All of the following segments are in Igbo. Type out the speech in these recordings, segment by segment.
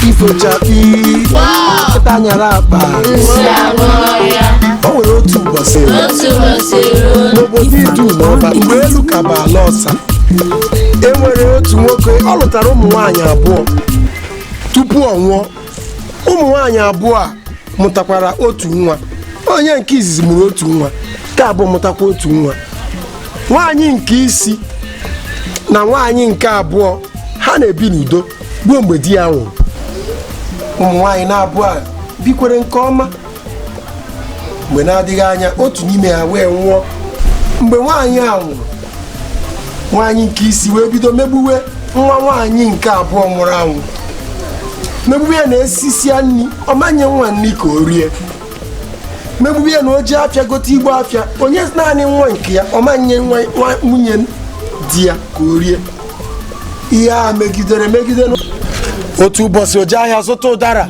ifo chakpii nkịta nyara akpa o nwere otu ụbọchị n'obodo idu n'ọba mgbe elu ka bụ ala ọsa e nwere otu nwoke ọ lụtara ụmụ nwaanyị abụọ tupu ọ nwụọ ụmụ nwaanyị abụọ a mụtakwara otu nwa onye nke izizi mụrụ otu nwa nke abụọ mụtakwa otu nwa nwaanyị nke isi na nwaanyị nke abụọ ha na-ebi n'udo ruo mgbe di ya nwụrụ ụmụ nwaanyị n'abụọ a bikwere nke ọma mgbe na-adịghị anya otu n'ime ha wee nwụọ mgbe nwaanyị a nwụrụ nwaanyị nke isi wee bido megbuwe nwa nwaanyị nke abụọ nwụrụ anwụ megbuwe ya na e sisịa nri ọ ma nye nwa nri ka o rie megbuwe ya na o je afịa gote igbo afịa o nye naanị nwa nke ya ọ ma nye nwunye di ya ka o rie ihe a megidere megide otu ụbọchị o je ahịa zụta ụdara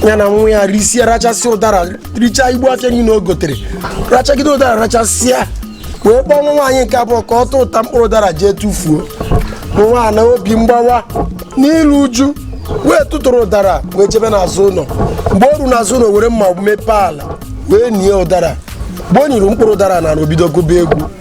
ya na nwa ya risie rachasị ụdara richaa igbo afịa niile o gotere rachagide ụdara rachasịa wee kpọọ nwa nwaanyị nke abụọ ka ọ tụtụta mkpụrụ ụdara jee tụfuo nwa n'obi mgbawa na ilu uju wee tụtụrụ ụdara wee jebe n'azụ ụlọ mgbe o ru n'azụ ụlọ were mma mepee ala wee nie ụdara mgbe o niri mkpụrụ ụdara na o bido gụba egwu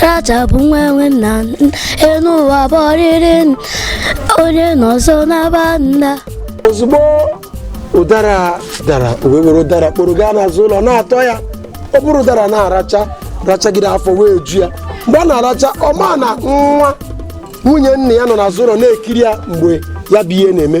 rachapụ nwa enwe nna enu ụwa bụ ọrịrị onye nọsịa ọ naba nda ozugbo ụdara dara o wee were ụdara kporo gaa n'azụ ụlọ na-atọ ya o buru ụdara na-aracha rachagide afọ wee ju ya mgbe ọ na-aracha ọ ma na nwa nwunye nna ya nọ n'azụ ụlọ na-ekiri ya mgbe ya bụ ihe na-eme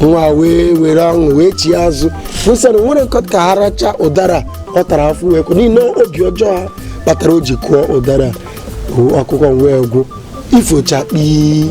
nwa wee were ọṅụ wee chie azụ fụsara nwere nkọ ka ha racha ụdara ọ tara afọ wee kwụ n'ihi na obi ọjọọ ha kpatara o ji kụọ ụdara o, akụkọ wee gwụ ifo chakpii